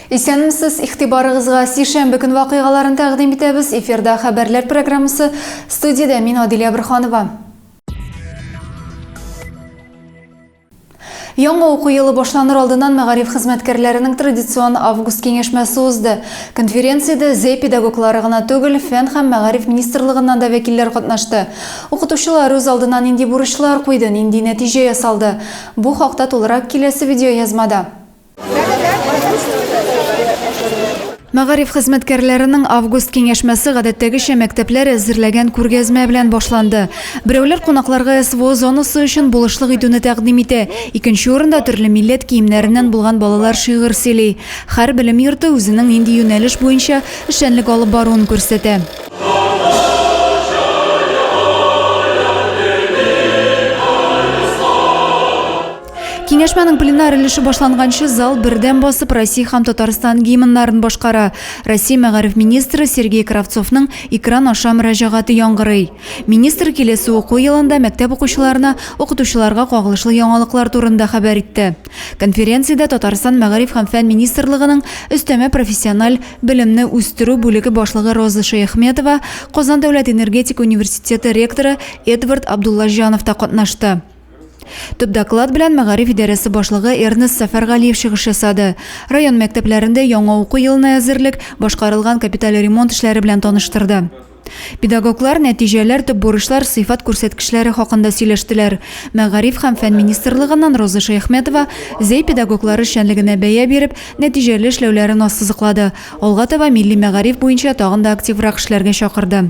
Исәнмесез, ихтибарыгызга сишәмбе көн вакыйгаларын тәкъдим итәбез. Эфирда хәбәрләр программасы. Студиядә мин Адилә Бирханова. Яңа уку елы башланыр алдыннан мәгариф хезмәткәрләренең традицион август киңәшмәсе узды. Конференциядә ЗЭ педагоглары гына түгел, Фән һәм мәгариф министрлыгыннан да вәкилләр катнашты. Укытучылар үз алдына нинди бурычлар куйды, нинди нәтиҗә ясалды? Бу хакта тулырак киләсе видеоязмада. Мәгариф хезмәткәрләренең август киңәшмәсе гадәттәгечә мәктәпләр әзерләгән күргәзмә белән башланды. Берәүләр кунакларга СВО зонасы өчен булышлык итүне тәкъдим итә, икенче урында төрле милләт киемнәреннән булган балалар шигырь сөйли. Һәр белем йорты үзенең нинди юнәлеш буенча эшчәнлек алып баруын күрсәтә. Киңәшмәнең пленар өлеше башланганчы зал бердәм басып Россия һәм Татарстан гимннарын башкара. Россия мәгариф министры Сергей Кравцовның экран аша мөрәҗәгате яңгырый. Министр киләсе уку елында мәктәп укучыларына укытучыларга кагылышлы яңалыклар турында хәбәр итте. Конференциядә Татарстан Мәгариф һәм фән министрлыгының өстәмә профессиональ белемне үстерү бүлеге башлыгы Роза Шәяхметова, Казан дәүләт энергетика университеты ректоры Эдвард Абдуллаҗанов та катнашты. Төп доклад белән мәгариф идарәсе башлыгы Эрнест Сәфәргалиев чыгыш ясады. Район мәктәпләрендә яңа уку елына әзерлек, башкарылган капиталь ремонт эшләре белән таныштырды. Педагоглар нәтиҗәләр, төп бурычлар, сыйфат күрсәткечләре хакында сөйләштеләр. Мәгариф һәм фән министрлыгыннан Роза Шәяхметова Зәй педагоглары эшчәнлегенә бәя биреп, нәтиҗәле эшләүләрен ассызыклады, алга таба милли мәгариф буенча тагын да активрак эшләргә чакырды.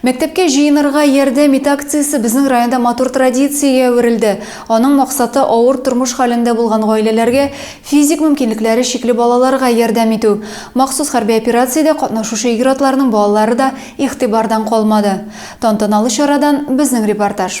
Мәктәпкә җыенырга ярдәм ит акциясе безнең районда матур традициягә әверелде. Аның максаты, авыр тормыш хәлендә булган гаиләләргә, физик мөмкинлекләре чикле балаларга ярдәм итү. Махсус хәрби операциядә катнашучы ир-атларның балалары да игътибардан калмады. Тантаналы чарадан безнең репортаж.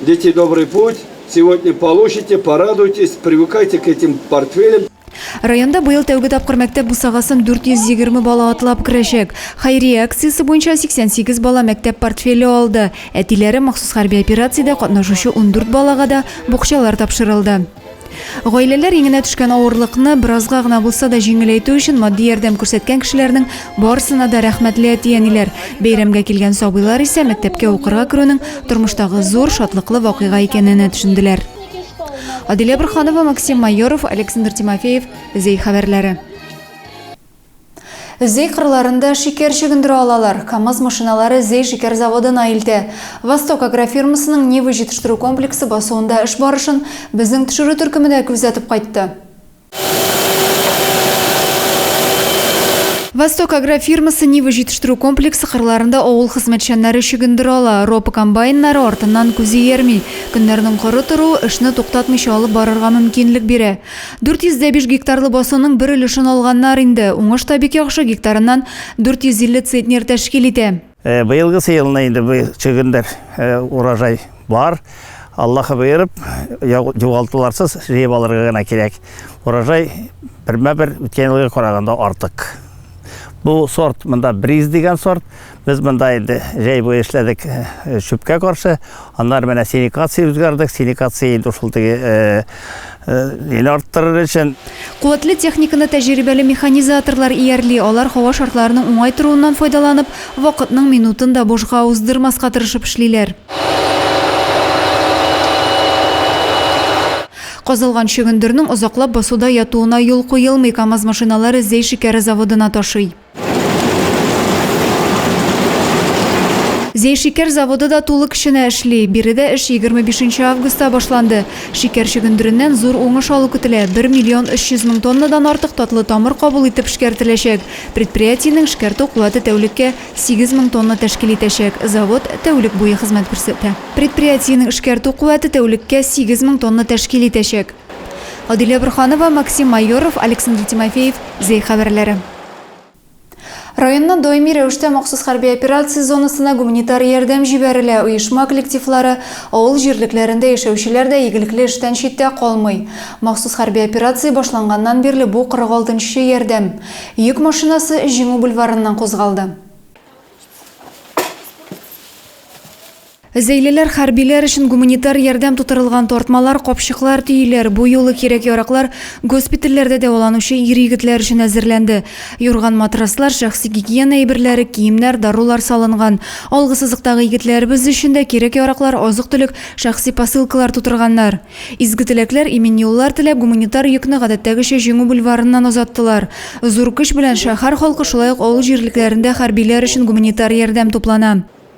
Дети добрый путь сегодня получите порадуйтесь привыкайте к этим портфелям. Районда быел тәүге тапкыр мәктәп бусагасын 420 бала атлап керәчәк. Хәйрия акциясе буенча 88 бала мәктәп портфеле алды. Әтиләре махсус хәрби операциядә катнашучы 14 балага да букчалар тапшырылды. Гаиләләр иңенә төшкән авырлыкны беразга гына булса да җиңеләйтү өчен матди ярдәм күрсәткән кешеләрнең барысына да рәхмәтле әти-әниләр. Бәйрәмгә килгән сабыйлар исә мәктәпкә укырга керүнең тормыштагы зур, шатлыклы вакыйга икәненә төшенделәр. Адилә Борханова, Максим Майоров, Александр Тимофеев, Зей хәбәрләре. Зөй кырларында шикәр чөгендерә алалар. КАМАЗ машиналары Зөй шикәр заводына илтә. Восток агрофирмасының Нива җитештерү комплексы басуында эш барышын безнең төшерү төркеме дә күзәтеп кайтты. Восток агрофирмасы Нива җитештерү комплексы кырларында авыл хезмәтчәннәре чөгендер ала. Ропа комбайннары артыннан күз иярми. Көннәрнең коры торуы эшне туктатмыйча алып барырга мөмкинлек бирә. 405 гектарлы басуның бер өлешен алганнар инде. Уңыш та бик яхшы, гектарыннан 450 центнер тәшкил итә. Э, быелгысы елны инде бу чөгендер э, урожай бар. Аллаһы боерып, югалтуларсыз җыеп алырга гына кирәк. Урожай бермә-бер үткән елга караганда артык. Бу сорт, монда бриз дигән сорт, Без монда инде җәй буе эшләдек чүпкә каршы. Аннары менә синикация үзгәрдек. Синикация инде шул теге ел арттырыр өчен. Куәтле техниканы тәҗрибәле механизаторлар иярли. Алар һава шартларының уңай торуыннан файдаланып, вакытның минутын да бушка уздырмаска тырышып эшлиләр. Казылган чөгендернең озаклап басуда ятуына юл куелмый, КАМАЗ машиналары Зәй шикәре заводына ташый. Зәйшикәр заводы да тулы көченә эшли. Биредә эш егерме бишенче августта башланды. Шикәр чөгендереннән зур уңыш алу көтелә, бер миллион өч йөз мең тоннадан артык татлы тамыр кабул итеп эшкәртеләчәк. Предприятиенең эшкәртү куәте тәүлеккә сигез мең тонна тәшкил итәчәк. Завод тәүлек буе хезмәт күрсәтә. Предприятиенең эшкәртү куәте тәүлеккә сигез мең тонна тәшкил итәчәк. Адилә Борһанова, Максим Майоров, Александр Тимофеев, Зәй хәбәрләре. Районнан даими рәвештә махсус хәрби операция зонасына гуманитар ярдәм җибәрелә. Оешма коллективлары, авыл җирлекләрендә яшәүчеләр дә игелекле эштән читтә калмый. Махсус хәрби операция башланганнан бирле бу 46 нчы ярдәм. Йөк машинасы Җиңү бульварыннан кузгалды. Зәйлеләр хәрбиләр өчен гуманитар ярдәм тутырылган тартмалар, капчыклар, төйләр, бу юлы кирәк-яраклар госпитальләрдә дәваланучы ир-егетләр өчен әзерләнде. Юрган-матраслар, шәхси гигиена әйберләре, киемнәр, дарулар салынган. Алгысызлыктагы егетләребез өчен дә кирәк-яраклар, азык-төлек, шәхси посылкалар тутырганнар. Изге теләкләр, имин юллар теләп, гуманитар йөкне гадәттәгечә Җиңү бульварыннан озаттылар. Зур көч белән шәһәр халкы, шулай ук авыл җирлекләрендә хәрбиләр өчен гуманитар ярдәм туплана.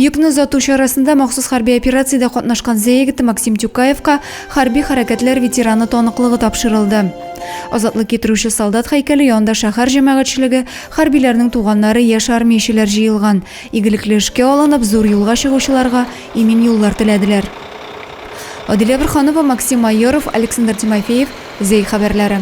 Йөкне озату чарасында махсус хәрби операциядә катнашкан Зеегт Максим Тюкаевка Хәрби хәрәкәтләр ветераны таныклыгы тапшырылды. Азатлык китерүче солдат һәйкәле янында шәһәр җәмәгатьчелеге, хәрбиләрнең туганнары, яшь армиячеләр җыелган, игелекле эшкә алынып, зур юлга чыгучыларга имин юллар теләделәр. Адилә Борханова, Максим Майоров, Александр Тимофеев, Зәй хәбәрләре.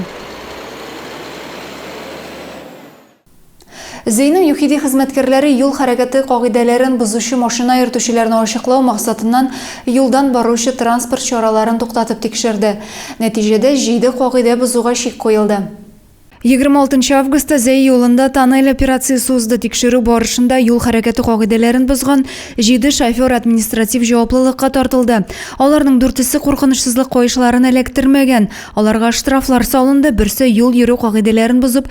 Зейнең ЮХИДИ хезмәткәрләре юл хәрәкәте кагыйдәләрен бозучы машина йөртүчеләрне ачыклау максатыннан юлдан баручы транспорт чараларын туктатып тикшерде. Нәтиҗәдә, җиде кагыйдә бозуга чик куелды. Егерме алтынчы августта Зәй юлында тоннель операциясе узды, тикшерү барышында юл хәрәкәте кагыйдәләрен бозган җиде шофер административ җаваплылыкка тартылды. Аларның дүртесе куркынычсызлык каешларын эләктермәгән. Аларга штрафлар салынды, берсе юл йөрү кагыйдәләрен бозып,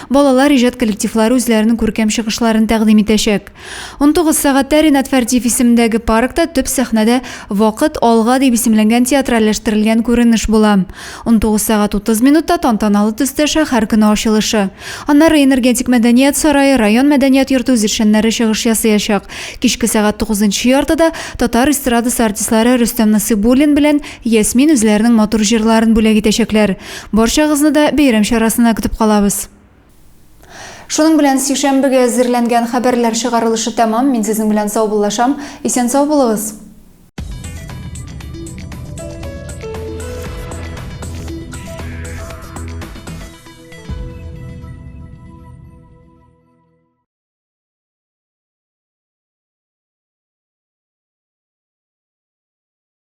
Балалар иҗат коллективлары үзләренең күркәм чыгышларын тәкъдим итәчәк. Унтугыз сәгатьтә Ринат Фәрдиев исемендәге паркта төп сәхнәдә Вакыт, алга! дип исемләнгән театральләштерелгән күренеш була. Унтугыз сәгать утыз минутта тантаналы төстә шәһәр көне ачылышы. Аннары Энергетик мәдәният сарае, район мәдәният йорты үзешчәннәре чыгыш ясыячак. Кичке сәгать тугызынчы яртыда татар эстрадасы артистлары Рөстәм Насыйбуллин белән Ясмин үзләренең матур җырларын бүләк итәчәкләр. Барчагызны да бәйрәм чарасына көтеп калабыз. Шуның белән сишәмбегә әзерләнгән хәбәрләр чыгарылышы тәмам. Мин сезнең белән саубуллашам. Исән-сау булыгыз!